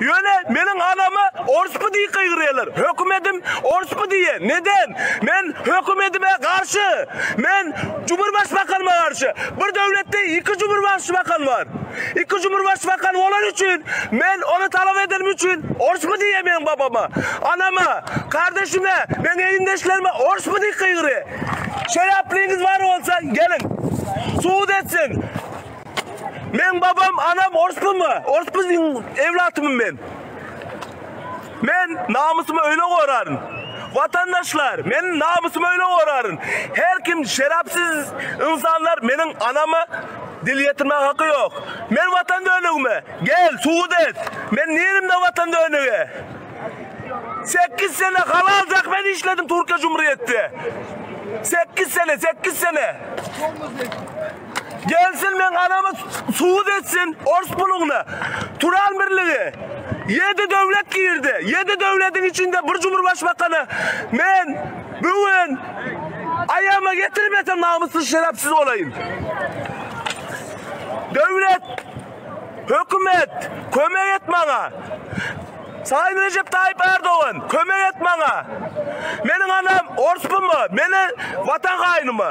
Ýöne meniň anama orspy diýip gygyrýarlar. Hökümedim orspy diýýär. Neden? Men hökümedime garşy. Men Cumhurbaşbakanyma garşy. Bir döwletde iki Cumhurbaşbakan bar. Iki Cumhurbaşbakan bolany üçin men ony talap edenim üçin orspy diýýär meniň babama, anama, kardeşime, meň egindeşlerime orspy diýip gygyrýar. Şeraplyňyz bar bolsa geliň. Subut etsin. Meň babam anam orspumy? Ors biziň ewlatymy men? Men namysymy öýle goraryn. Watandaşlar men namysymy öýle goraryn. Her kim şerapsiz ynsanlar meniň anama dil ýetirmäge haky ýok. Men watan dönügimi gel subut et. Men nirimde watan dönügi? Sekiz sene halal zähmet işledim Türkiýe jumryýetde. Sekiz sene sekiz sene. Gelsin meň anamy subut etsin ors puluňny. Turan birligi. Ýedi döwlet girdi. Ýedi döwlediň içinde bir cumurbaşbakany men bu gün aýagyma getirmesem namyssyz şerepsiz bolaýyn. Döwlet, hökümet kömek et maňa. Sayyn Recep Tayyip Erdogan kömek et maňa. Meniň anam orspumy? Meni watan haýnymy?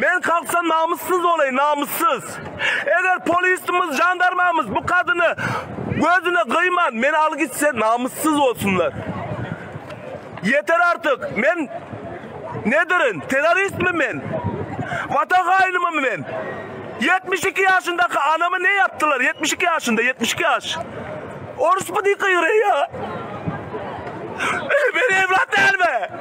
Men kalksam namyssyz bolaýyn namyssyz. Eger polisimiz jandarmamyz bu kadyny gözüne gyýman meni al gitse namyssyz bolsunlar. Ýeter artyk men nedirin teroristmi men? Watan haýynymymy men? Ýetmiş iki ýaşyndaky anama ne ýapdylar ýetmiş iki ýaşynda ýetmiş iki ýaş. Orusmy diýip gygyraýa. Men ewlat dälmi?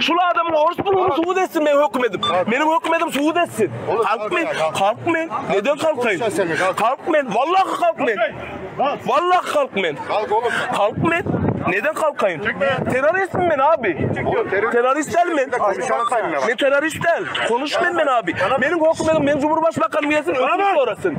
Şul adamyň orus puluny subut etsin meň hökümedim. Meniň hökümedim subut etsin. Halk men, halk men. Neden halkaýyn? Halk men, wallahy halk men. Wallahy halk men. Halk men. Neden halkaýyn? Terroristim men abi. Terrorist däl men. Men terrorist däl. Konuş men men abi. Meniň hökümedim, meniň cumhurbaşbakanymyň gelsin, öňüni sorasyn.